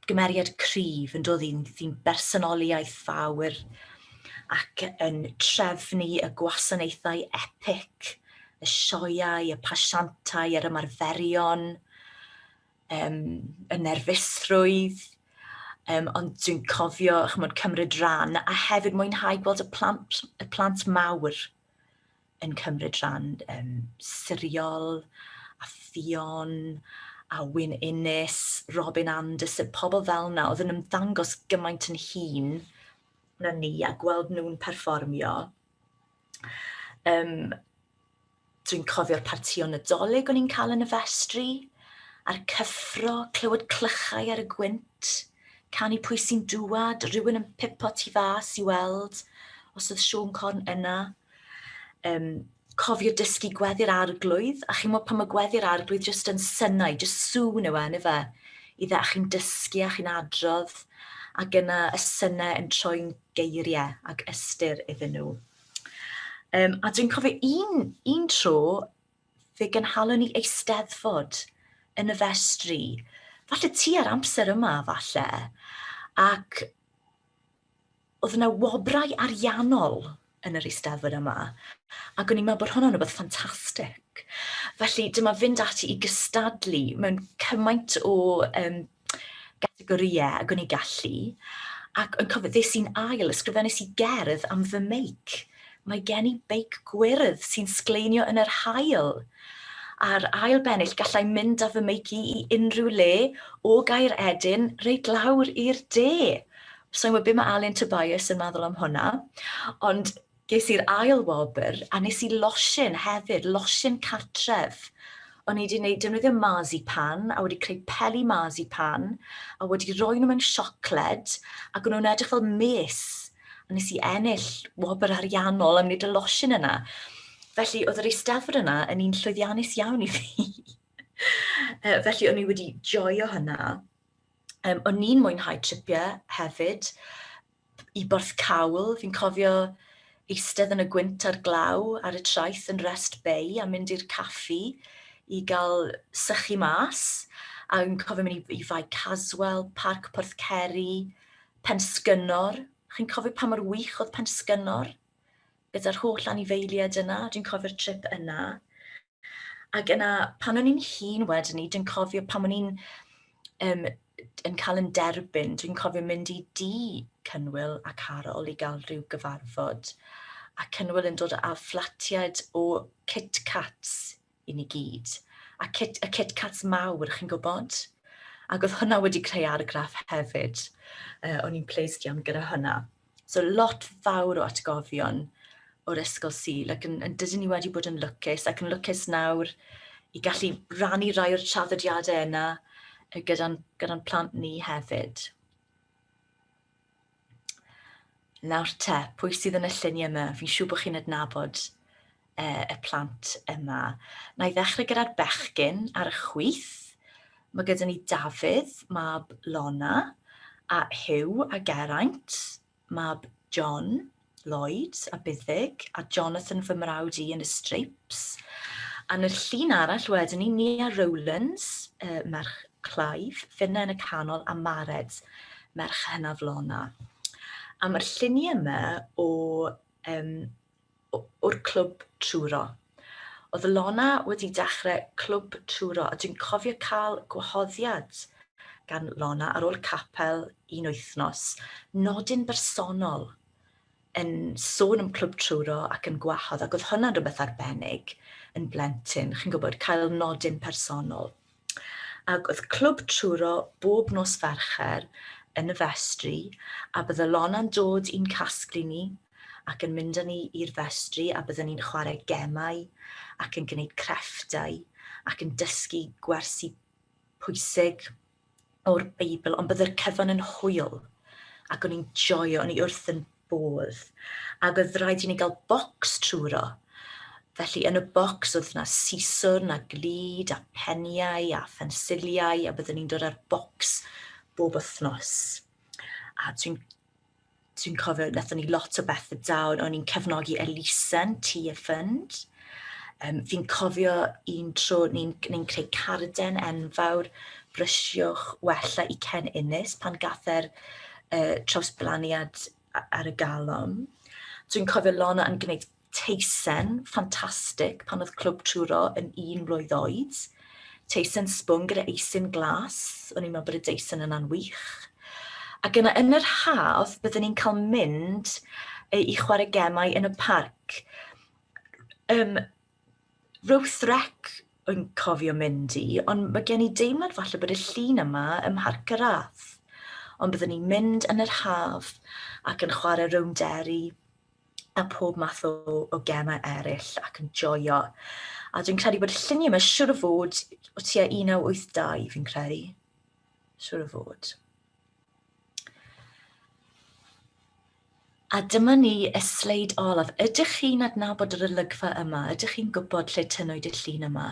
gymeriad cryf yn dod i'n sy'n bersonoli iaith fawr ac yn trefnu y gwasanaethau epic, y sioeau, y pasiantau, yr ymarferion, um, y nerfusrwydd, um, ond dwi'n cofio chymod, cymryd rhan a hefyd mwynhau gweld y plant, y plant mawr yn cymryd rhan um, Siriol, a Ffion, a Wyn Innes, Robin Anderson, pobl fel yna oedd yn ymddangos gymaint yn hun na ni a gweld nhw'n perfformio. Um, Dwi'n cofio'r partio nadolig o'n i'n cael yn y festri, a'r cyffro, clywed clychau ar y gwynt, canu pwy sy'n dŵad, rhywun yn pipo tu fas i weld os oedd Siôn Corn yna. Um, cofio dysgu gweddi'r arglwydd, a chi'n modd pan mae gweddi'r arglwydd jyst yn synnau, jyst sŵn yw e, ni fe, i dde, a chi'n dysgu a chi'n adrodd, ac yna y synnau yn troi'n geiriau ac ystyr iddyn nhw. Um, a dwi'n cofio un, un tro, fe gynhalwn ni eisteddfod yn y festri, falle ti ar amser yma, falle, ac oedd yna wobrau ariannol yn yr Eisteddfod yma, ac o'n i'n meddwl bod hwnna'n rhywbeth ffantastig. Felly dyma fynd ati i gystadlu mewn cymaint o um, gategorïau ac o'n i'n gallu, ac yn cofio ddes i'n ail, ysgrifennes i gerdd am fy meic. Mae gen i beic gwyrdd sy'n sgleinio yn yr hael. A'r ail bennill gallai mynd â fy meic i i unrhyw le o gair edyn reit lawr i'r de. Sa i'n gwybod be mae Alun Tobias yn meddwl am hwnna, ond ges i'r ail wobr a nes i losin hefyd, losin cartref. O'n i wedi gwneud defnyddio mazi pan a wedi creu peli mazi pan a wedi roi nhw mewn siocled ac o'n nhw'n edrych fel mes a nes i ennill wobr ariannol am wneud y losin yna. Felly oedd yr eisteddfod yna yn un llwyddiannus iawn i fi. Felly o'n i wedi joio hynna. Um, o'n i'n mwynhau tripiau hefyd i Borth Cawl. Fi'n cofio eistedd yn y gwynt ar glaw ar y traeth yn Rest Bay a mynd i'r caffi i gael sychu mas. A fi'n cofio mynd i, i Fai Caswell, Parc Porth Ceri, Pensgynnor. Chi'n cofio pa mor wych oedd Pensgynnor? Bydd yr holl anifeiliaid yna, dwi'n cofio'r trip yna. Ac yna, pan o'n i'n hun wedyn ni, dwi'n cofio pan o'n i'n um, yn cael yn derbyn, dwi'n cofio mynd i di Cynwyl a Carol i gael rhyw gyfarfod. A Cynwyl yn dod â fflatiaid o Kit Cats i ni gyd. A kit, y Kit Cats mawr, chi'n gwybod? Ac oedd hwnna wedi creu argraff hefyd. Uh, o'n i'n pleised iawn gyda hwnna. So lot fawr o atgofion o'r ysgol Sul ac yn, yn dydyn ni wedi bod yn lwcus ac yn lwcus nawr i gallu rannu rai o'r traddodiadau yna gyda'n gyda plant ni hefyd. Nawr te, pwy sydd yn y lluniau yma? Fi'n siŵr bod chi'n adnabod uh, y plant yma. Na i ddechrau gyda'r bechgyn ar y chwyth. Mae gyda ni Dafydd, mab Lona, a Hugh a Geraint, mab John, Lloyd a Buddig, a Jonathan fy mrawd i yn y Stripes. A yn y llun arall wedyn ni, Nia Rowlands, uh, merch Clive, Finna yn y canol, a Mared, merch hynaf Lona. A mae'r lluniau yma o um, o'r clwb Truro. Oedd Lona wedi dechrau clwb Truro a dwi'n cofio cael gwahoddiad gan Lona ar ôl capel un wythnos, nodyn bersonol yn sôn am clwb Truro ac yn gwahodd ac oedd hwnna'n rhywbeth arbennig yn blentyn, chi'n gwybod, cael nodyn personol. Ac oedd clwb truro bob nos Fercher yn y festri, a bydde Lona'n dod i'n casglu ni, ac yn mynd â ni i'r festri, a bydden ni'n chwarae gemau, ac yn gwneud crefftau, ac yn dysgu gwersi pwysig. o'r Beibl, ond byddai'r cyfan yn hwyl, ac o'n i'n joio, o'n i wrth yn bodd. Ac oedd rhaid i ni gael bocs trwyro. Felly yn y bocs oedd yna siswrn a glid a peniau a phensiliau a byddwn ni'n dod â'r bocs bob wythnos. A dwi'n Dwi'n cofio, wnaethon ni lot o bethau da, o'n i'n cefnogi Elisen, Tea a Fund. Um, fi'n cofio un tro ni'n ni, creu carden enfawr, brysiwch wella i Ken Innes pan gather uh, trawsblaniad ar y galon. Dwi'n cofio Lona yn gwneud Teisen, ffantastig, pan oedd Clwb Truro yn un mlwydd oed. Teisen sbwn gyda eisin glas, o'n i'n meddwl bod y deisen yna'n wych. Ac yna yn yr haf, byddwn ni'n cael mynd i chwarae gemau yn y parc. Um, Ruth Rec yn cofio mynd i, ond mae gen i deimlad falle bod y llun yma ym Mharc y Rath. Ond byddwn ni'n mynd yn yr haf ac yn chwarae rownd deri, a pob math o, o gemau eraill ac yn joio. A dwi'n credu bod y lluniau yma siwr o fod o tua 1982, fi'n credu. Siwr o fod. A dyma ni y sleid olaf. Ydych chi'n adnabod yr olygfa yma? Ydych chi'n gwybod lle tynnwyd y llun yma?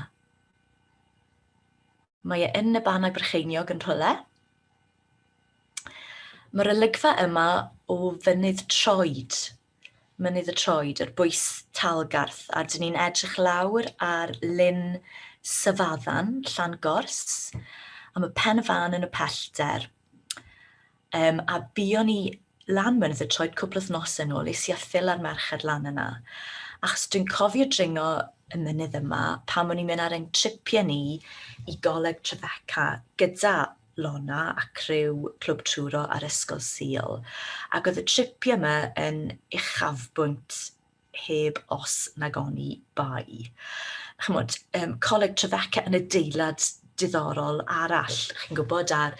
Mae e yn y Bannau Brycheiniog yn rhywle. Mae'r olygfa yma o fynydd troed, mynydd y troed, yr bwys talgarth, a dyn ni'n edrych lawr ar lyn Syfaddan, Llan Gors, a mae pen y fan yn y pellter. Um, a buon ni lan mynydd y troed cwpl o nos yn ôl, es i a ffil ar merched lan yna. Achos dwi'n cofio dringo y mynydd yma pan o'n i'n mynd ar ein tripiau ni i goleg Trefeca gyda Lona a criw Clwb Truro a'r Ysgol Sul, ac oedd y tripiau yma yn uchafbwynt heb os nag oni bai. Chymod, um, Coleg Trefeca yn adeilad diddorol arall, chi'n gwybod, ar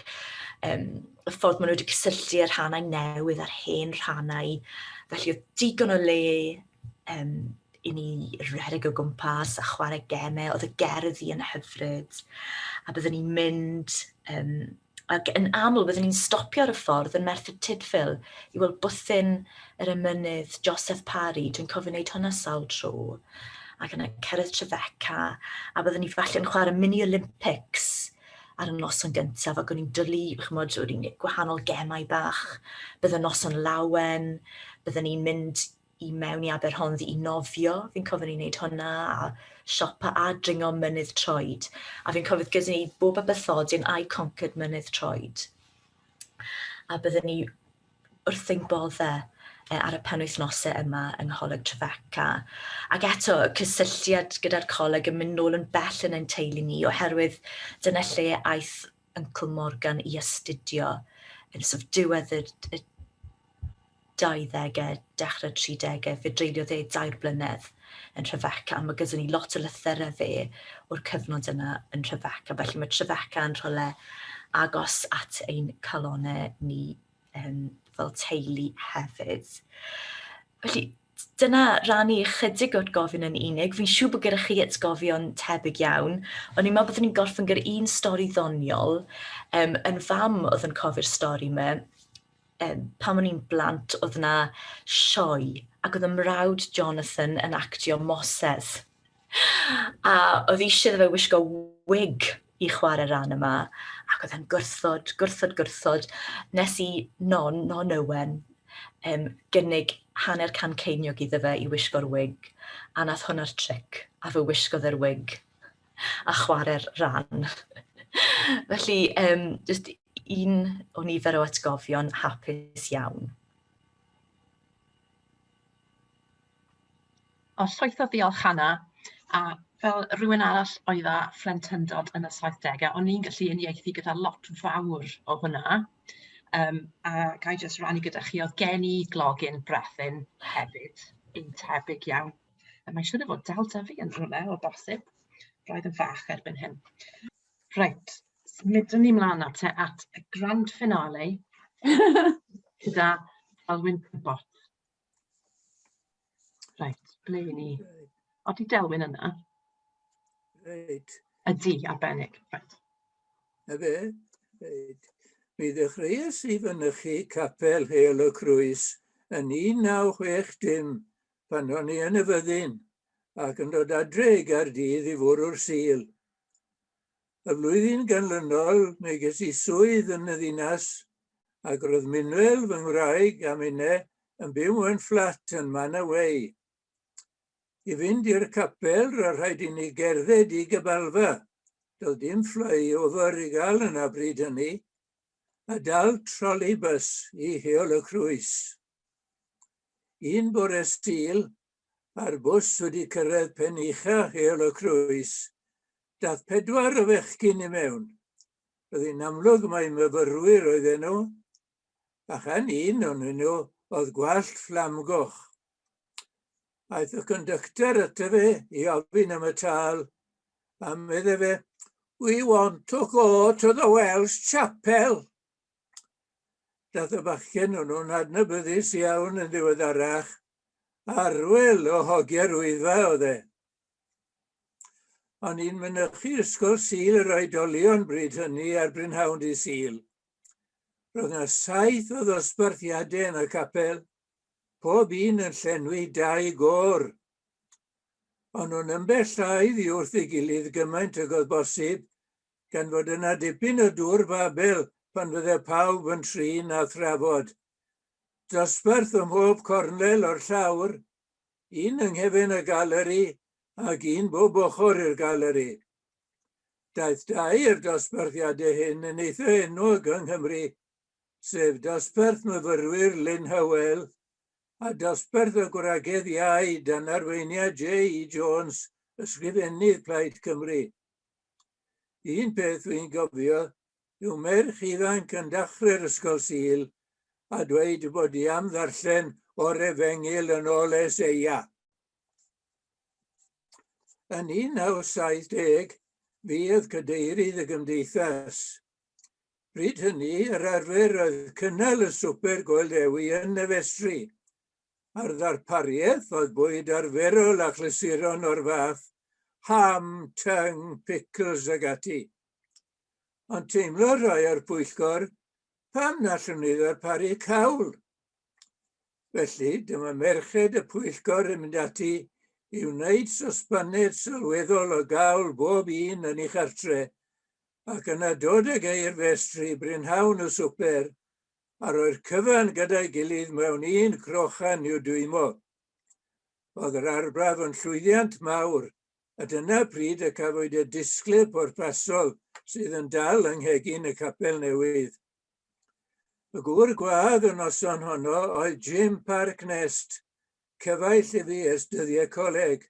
um, y ffordd maen nhw wedi cysylltu y rhannau newydd a'r hen rhannau. Felly oedd digon o le um, i ni redeg o gwmpas a chwarae gemau, oedd y gerdd i yn hyfryd, a byddwn ni'n mynd um, Ac yn aml, byddwn ni'n stopio ar y ffordd yn Merthyr Tudfil i weld bwthyn yr emynydd Joseph Parry. Dwi'n cofio wneud hwnna sawl tro. Ac yna cerdd Trefeca, a byddwn ni falle yn chwarae mini Olympics ar y noson gyntaf ac o'n i'n dylu, chymod, o'n i'n gwahanol gemau bach. Bydd y noson lawen, byddwn ni'n mynd i mewn i Aberhonddu i nofio, fi'n cofio ni'n neud hwnna, a siopa a dringo mynydd troed. A fi'n cofio gyda ni bob abythodion I Conquered mynydd troed. A byddwn ni wrth ein bodde e, ar y penwythnosau yma yng Ngholeg Trefeca. Ac eto, y cysylltiad gyda'r coleg yn mynd nôl yn bell yn ein teulu ni, oherwydd dyna lle aeth Uncle Morgan i astudio yn sort of diwedd y, y 20au, dechrau'r 30au, fe dreuliodd e dair blynedd yn Trefeca, mae gyda ni lot o lythyrau fe o'r cyfnod yna yn Trefeca, felly mae Trefeca yn rhywle agos at ein calonau ni um, fel teulu hefyd. Felly, dyna rannu ychydig o'r gofyn yn unig. Fi'n siŵr bod gyda chi atgofion tebyg iawn. O'n i'n meddwl bod ni'n gorffen gyda un stori ddoniol. Um, yn fam oedd yn cofio'r stori yma. um, pan o'n i'n blant, oedd yna sioe, ac oedd y mrawd Jonathan yn actio Moses. A oedd eisiau iddo fe wisgo wig i chwarae rhan yma, ac oedd e'n gwrthod, gwrthod, gwrthod, nes i non, non Owen, um, gynnig hanner can ceiniog iddo fe i wisgo'r wig, a nath hwnna'r tric, a fe wisgodd e'r wig a chwarae'r rhan. Felly, um, just un o nifer o atgofion hapus iawn. O llwyth o ddiolch Hanna, a fel rhywun arall oedd â phlentyndod yn y 70au, o'n i'n gallu uniaethu gyda lot fawr o hwnna. Um, a ga i jyst rannu gyda chi, oedd gen i glogin brethyn hefyd, un tebyg iawn. A mae'n siŵr o fod dal da fi yn rhywle o bosib, roedd yn fach erbyn hyn. Reit, symudwn ni mlaen nawr te at y grand finale gyda Alwyn Pibbot. Reit, ble i ni? O, di Delwyn yna? Reit. Ydy, arbennig. Reit. Na fe? Reit. Mi ddechreuais i fynychu capel Heol y Crwys yn 1960 pan o'n i yn y fyddin ac yn dod adre i Gaerdydd i fwrw'r sil Y flwyddyn ganlynol mi ges i swydd yn y ddinas ac roedd Minwell, fy ngwraig, a Minne yn byw mewn fflat yn Manor Way. I fynd i'r capel, roedd rhaid i ni gerdded i Gybalfa. Doedd dim flyover i gael yna bryd hynny, a dal troli bys i Heol y Crwys. Un bore Sul, a'r bws wedi cyrraedd pen ucha Heol y Crwys, daeth pedwar o fechgyn i mewn. Roedd hi'n amlwg mai myfyrwyr oedden nhw, a chan un o'nyn nhw oedd gwallt fflamgoch. Aeth y conductor ato fe i ofyn am y tâl, a medde fe, We want to go to the Welsh Chapel. Dath y bachgen hwnnw'n adnabyddus iawn yn ddiweddarach. Arwyl o hogiau'r wyddfa oedd e. O'n i'n mynychu Ysgol Sul yr Oedolion bryd hynny ar Brynhawn Dy Sul. Roedd yna saith o ddosbarthiadau yn y capel, pob un yn llenwi dau gôr. O'n nhw'n ymbellhau ddi wrth ei gilydd gymaint ag oedd bosib, gan fod yna dipyn o dŵr Babel pan fydde pawb yn trin a thrafod. Dosbarth ym mhob cornel o'r llawr, un yng nghefn y galeri ac un bob ochr i'r galeri. Daeth dau o'r dosbarthiadau hyn yn eitha enwog yng Nghymru, sef dosbarth myfyrwyr Lynn Hywel a dosbarth y gwragedd iau dan arweiniad JE Jones, Ysgrifennydd Plaid Cymru. Un peth dwi'n gofio yw merch ifanc yn dachre'r Ysgol Sul a dweud bod i am ddarllen o'r Efengyl yn ôl Eseia. Yn 1970, fi oedd cadeirydd y gymdeithas. Bryd hynny, yr arfer oedd cynnal y swper Goel Dewi yn y festri, a'r ddarpariaeth oedd bwyd arferol a chlysuron o'r fath, ham, tyng, picls ag ati. Ond teimlodd rhai o'r pwyllgor pam na allwn ni ddarparu cawl. Felly, dyma merched y pwyllgor yn mynd ati i wneud sosbaned sylweddol o gawl bob un yn ei chartre, ac yna dod ag e i'r festri brynhawn y swper a roi'r cyfan gyda'i gilydd mewn un crochan i'w dwymo. Oedd yr arbrawf yn llwyddiant mawr, a dyna pryd y cafwyd y disglair pwrpasol sydd yn dal yng nghegin y capel newydd. Y gŵr gwadd y noson honno oedd Jim Parknest, cyfaill i fi ers dyddiau coleg.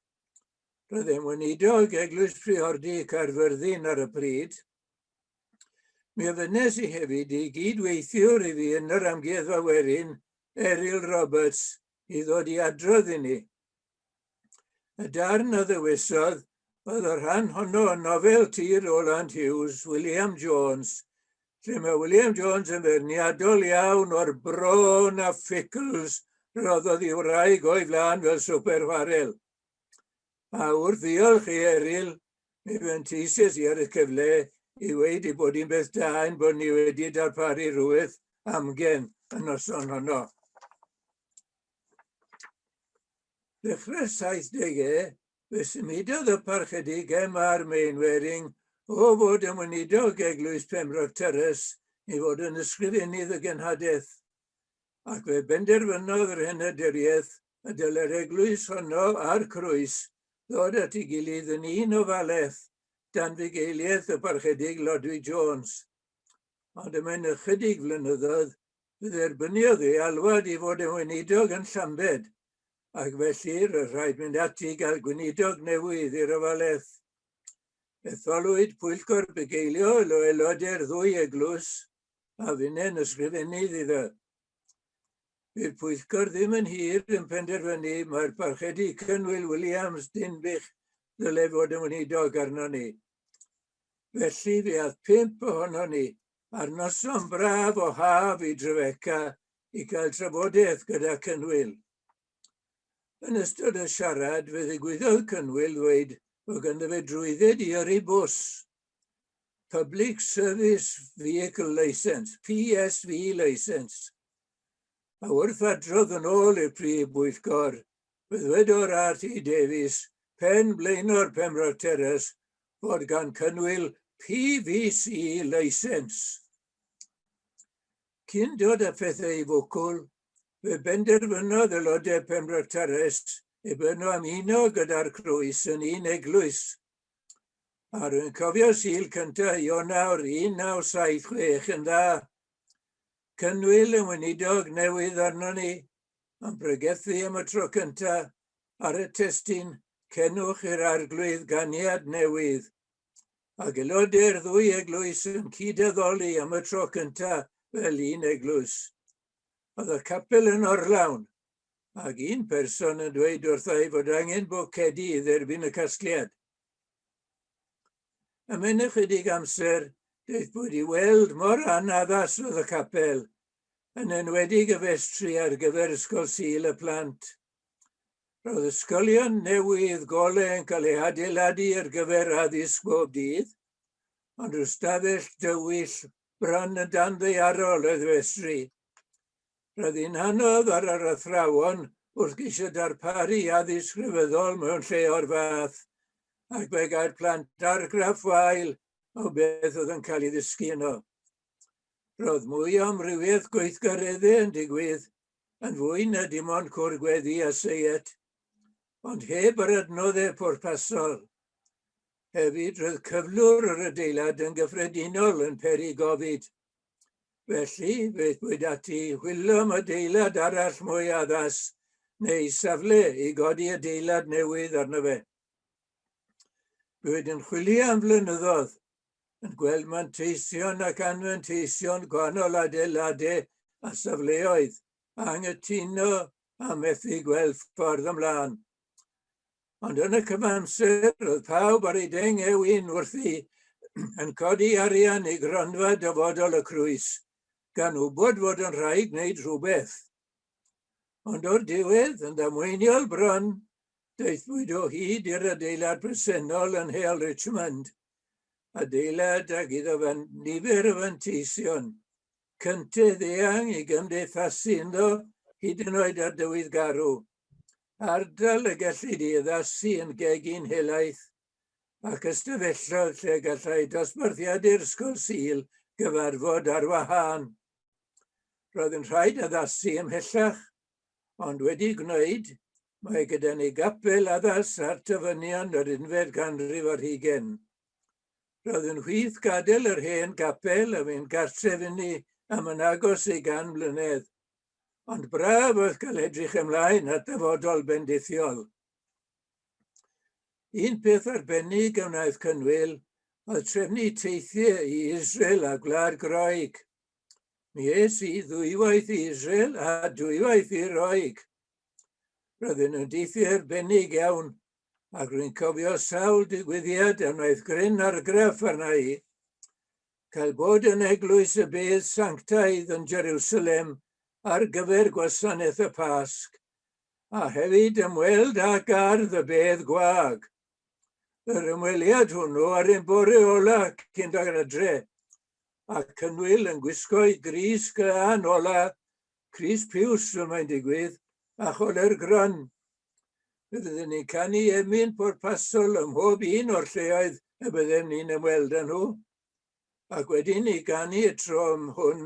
Roedd e'n weinidog Eglwys Priordy Caerfyrddin ar y pryd. Mi ofynes i hefyd i gyd-weithiwr i fi yn yr amgueddfa werin, Eryl Roberts, i ddod i adrodd i ni. Y darn a ddewisodd oedd y rhan honno o nofel ti Roland Hughes, William Jones, lle mae William Jones yn ferniadol iawn o'r bron a ffugls roddodd i wraig o'i flan fel swper chwarel. Mawr ddiolch i Eryl, mi fentisies i ar y cyfle i weid ei bod hi'n beth da ein bod ni wedi darparu rhywbeth amgen y noson honno. Ddechrau'r 70au, fe symudodd y parchedigaeth ma'r Mainwaring o fod yn weinidog Eglwys Pembroke Terrace i fod yn ysgrifennydd y genhadaeth, ac fe benderfynodd yr henaduriaeth y dylai'r eglwys honno a'r croes ddod at ei gilydd yn un ofalaeth dan fugeiliaeth y Parchedig Lodwy Jones. Ond y mae'n ychydig flynyddoedd fe dderbyniodd ei alwad i fod yn weinidog yn Llambed, ac felly roedd rhaid mynd ati i gael gweinidog newydd i'r ofalaeth. Etholwyd pwyllgor bugeiliol o aelodau'r ddwy eglwys a funen ysgrifennydd iddo. Bydd pwyllgor ddim yn hir yn penderfynu mae'r parchedu Cynwyl Williams Dinbych ddyle fod yn weinidog arno ni. Felly fe add pump ohono ni ar noson braf o haf i Drebeca i gael trafodaeth gyda Cynwyl. Yn ystod y siarad fe ddigwyddodd Cynwyl ddweud bod ganddo fe drwydded i yrru bws Public Service Vehicle Licence, PSV Licence, a wrth adrodd yn ôl i'r Prif Bwyllgor, byddwedo'r RT Davies, pen blaenor Pembrog Terrace, fod gan cynnwyl PVC Licence. Cyn dod â phethau i fwcwl, fe benderfynodd aelodau Pembrog Terrace i byrnu am uno gyda'r Croes yn un eglwys A rwy'n cofio Sul cyntaf Ionawr 1976 yn dda. Cynwyl yn weinidog newydd arno ni, yn pregethu am y tro cyntaf ar y testun Cenwch i'r Arglwydd ganiad newydd. A gelodau'r ddwy eglwys yn cyd-addoli am y tro cyntaf fel un eglwys. Oedd y capel yn orlawn, ac un person yn dweud wrtha i fod angen bocedi i dderbyn y casgliad. Am yn ychydig amser, doedd bod i weld mor anaddas oedd y capel, yn enwedig y festri ar gyfer Ysgol Sul y Plant. Roedd ysgolion newydd gole yn cael ei adeiladu ar gyfer addysg bob dydd, ond rhyw stafell dywyll bron yn dan ddeiarol oedd festri. Roedd hi'n anodd ar yr athrawon wrth geisio darparu addysg rhyfeddol mewn lle o'r fath, ac fe gair plant argraff wael o beth oedd yn cael ei ddysgu yno. Roedd mwy o amrywiaeth gweithgareddau yn digwydd, yn fwy na dim ond cwr gweddi a seiet, ond heb yr adnoddau pwrpasol. Hefyd, roedd cyflwr yr adeilad yn gyffredinol yn peri gofid, Felly, fe ddweud ati, hwylo am adeilad arall mwy addas, neu safle i godi adeilad newydd arno fe. Rwy'n yn chwilio am flynyddoedd, yn gweld manteision ac anfanteision gwahanol adeiladau a safleoedd, a anghytuno a methu gweld ffordd ymlaen. Ond yn y cyfamser, roedd pawb ar ei deng eu un wrthi yn codi arian i gronfa dyfodol y crwys, gan wybod fod yn rhaid gwneud rhywbeth. Ond o'r diwedd, yn ddamweiniol bron, daethpwyd o hyd i'r adeilad presennol yn Heol Richmond, adeilad ag iddo fan nifer o fanteision, cyntedd eang i gymdeithasu ynddo hyd yn oed ar dywydd garw. Ardal y gellid i addasu yn gegin helaeth ac ystafelloedd lle gallai dosbarthiadur Sgol Sul gyfarfod ar wahân. Roedd yn rhaid addasu ymhellach, ond wedi gwneud, mae gyda ni gapel addas ar tyfynion yr unfed ganrif ar hugen. Roedd yn hwyth gadael yr hen gapel a fynd gartref inni am yn agos i gan mlynedd. ond braf oedd cael edrych ymlaen at ddyfodol bendithiol. Un peth arbennig a wnaeth Cynwyl oedd trefnu teithiau i Israel a Gwlad Groeg. Mi es i ddwywaith i Israel a dwywaith i Roeg. Roedden nhw'n deithiau arbennig iawn, ac rwy'n cofio sawl digwyddiad a wnaeth gryn argraff arna i. cael bod yn Eglwys y Bedd Sanctaidd yn Jerusalem ar gyfer Gwasanaeth y Pasg, a hefyd ymweld â Gardd y Bedd Gwag. Yr ymweliad hwnnw ar ein bore ola cyn dod adre, a Cynwyl yn gwisgo'i grys glân ola Crys Piws y mae'n digwydd, a Choler Gran. Fe fydden ni'n canu emyn pwrpasol ym mhob un o'r lleoedd y byddem ni'n ymweld â nhw. Ac wedyn ni ganu y tro am hwn,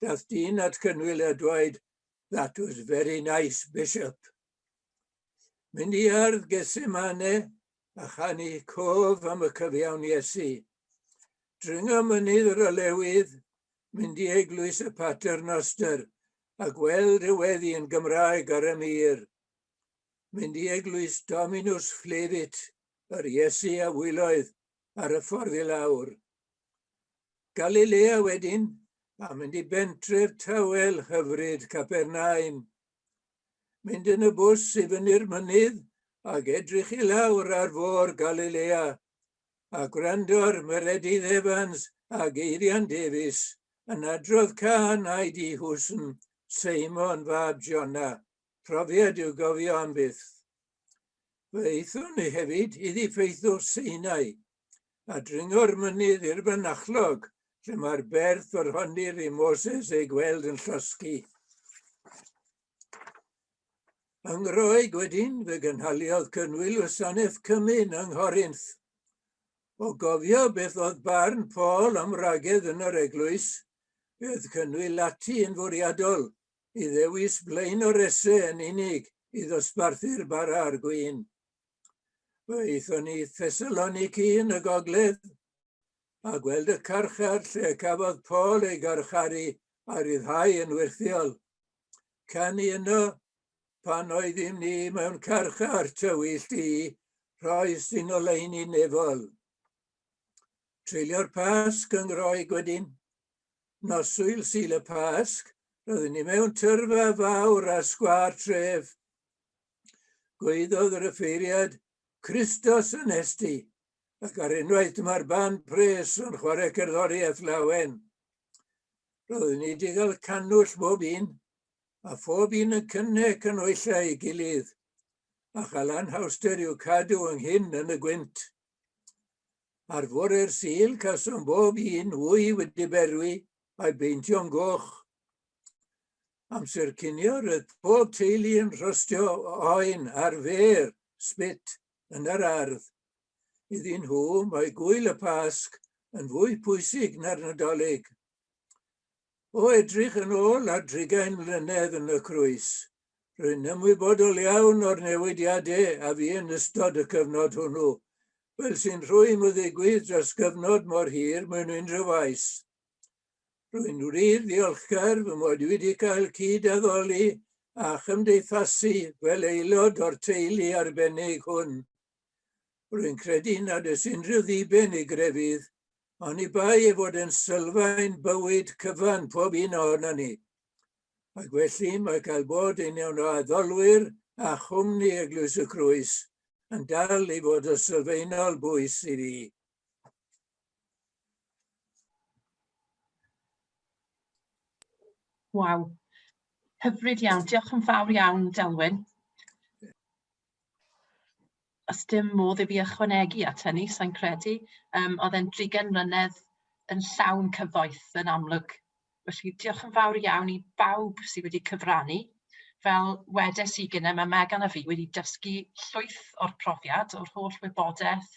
dath dyn at Cynwyl a dwaed, That was very nice, Bishop. Mynd i ardd Gesemane a chanu cof am y cyfiawn Iesu. Dringo mynydd yr olewydd, mynd i eglwys y Pater Noster a gweld y weddi yn Gymraeg ar y mir. Mynd i eglwys Dominus Flevit, yr Iesu a wyloedd ar y ffordd i lawr. Galilea wedyn, a mynd i bentref tawel hyfryd Capernaum. mynd yn y bws i fyny'r mynydd ac edrych i lawr ar fôr Galilea, a gwrando ar Meredydd Evans a Geirian Davies yn adrodd cân Aed i Husn, Seimon fab Jona, profiad i'w gofio am byth. Fe aethon ni hefyd i ddiffeithwch Seinai, a dringo'r mynydd i'r fynachlog, lle mae'r berth o'r honir i Moses ei gweld yn llosgi. Yng Ngroeg wedyn, fe gynhaliodd cynwyl wasanaeth cymyn yng Nghorinth. O gofio beth oedd barn Paul am ragedd yn yr eglwys, bydd cynwyl ati yn fwriadol i ddewis blaen o'r ese yn unig i ddosbarthu'r bara a'r gwyn. Fe aethon ni Thessaloniki yn y gogledd, a gweld y carchar lle cafodd Paul ei garcharu a ryddhau yn wirthiol. Canu yno, pan oeddym ni mewn carchar tywyll di, rhoi sy'n oleini nefol. Treulio'r Pasg yng Ngroeg wedyn. Noswyl syl y Pasg, roeddwn ni mewn tyrfa fawr a sgwar tref, Gwaeddodd yr offeiriad, Christos anesti, ac ar unwaith dyma'r ban pres yn chwarae cerddoriaeth lawen. Roedd ni wedi cael canwll bob un, a phob un yn cynnig canwyllau ei gilydd, a chael anhawster i'w cadw ynghyn yn y gwynt. Ar fore'r sil casom bob un wy wedi berwi a'i beintio'n goch. Amser cinio roedd pob teulu yn rhostio oen ar fer, spit, yn yr ardd. Iddyn nhw, mae gwyl y Pasg yn fwy pwysig na'r Nadolig. O edrych yn ôl ar drigain mlynedd yn y crwys, rwy'n ymwybodol iawn o'r newidiadau a fi yn ystod y cyfnod hwnnw, fel sy'n rhwym o ddigwydd dros gyfnod mor hir mewn unrhyw faes. Rwy'n wir ddiolchgar fy mod wedi cael cyd-addoli a chymdeithasu fel aelod o'r teulu arbennig hwn. Rwy'n credu nad oes unrhyw ddiben i grefydd, ond i bai ei fod yn sylfaen bywyd cyfan pob un ohono ni. Ac felly mae cael bod yn un o addolwyr a chwmni Eglwys y Crwys yn dal i fod o sylfaenol bwys i fi. Waw, hyfryd iawn. Diolch yn fawr iawn, Delwyn. Os dim modd i fi ychwanegu at hynny, sa'n credu. Yym, oedd e'n drugen mlynedd yn llawn cyfoeth, yn amlwg. Felly, diolch yn fawr iawn i bawb sydd wedi cyfrannu. Fel wedes i gynnau, mae Megan a fi wedi dysgu llwyth o'r profiad, o'r holl wybodaeth,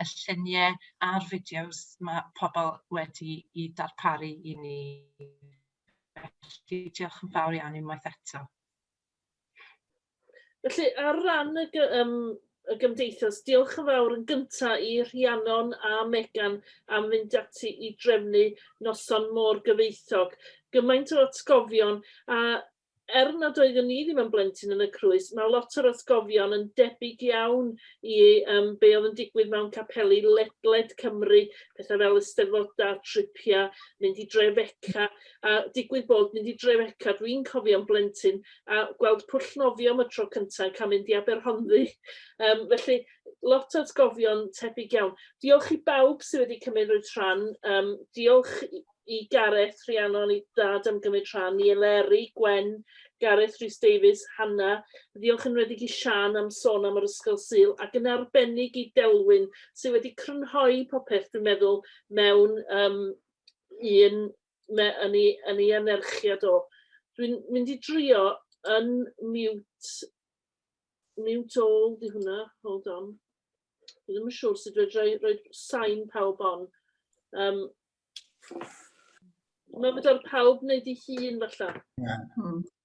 y lluniau a'r fideos mae pobl wedi i darparu i ni. Felly, diolch yn fawr iawn unwaith eto. Felly, ar ran y, um, y gymdeithas, diolch yn fawr yn gyntaf i Rhiannon a Megan am fynd ati i drefnu noson mor gyfeithog. Gymaint o atgofion a er nad oeddwn ni ddim yn blentyn yn y crwys, mae lot o'r atgofion yn debyg iawn i um, be oedd yn digwydd mewn capeli ledled Cymru, pethau fel ysteddfodau, tripiau, mynd i dre feca, a digwydd bod mynd i Dreveca dwi'n cofio'n blentyn a gweld Pwll Nofio am y tro cynta yn cael mynd i Aberhonddu um, felly lot o atgofion tebyg iawn. Diolch i bawb sydd wedi cymryd rhan, um, diolch i Gareth, Rhiannon, i Dad am gymryd rhan, i Eleri, Gwen, Gareth Rhys Davies, Hanna, ddiolch yn wedig i Sian am sôn am yr Ysgol Sul ac yn arbennig i Delwyn sydd wedi crynhoi popeth dwi'n meddwl mewn um, un me- yn ei yn ei anerchiad o. Dwi'n mynd i drio yn mute mute all 'di hwnna, hold on. Dwi ddim yn siŵr sut fedra i roi sain pawb on. Yym ma' fedar pawb wneud ei hun falla. Ie. Hmm.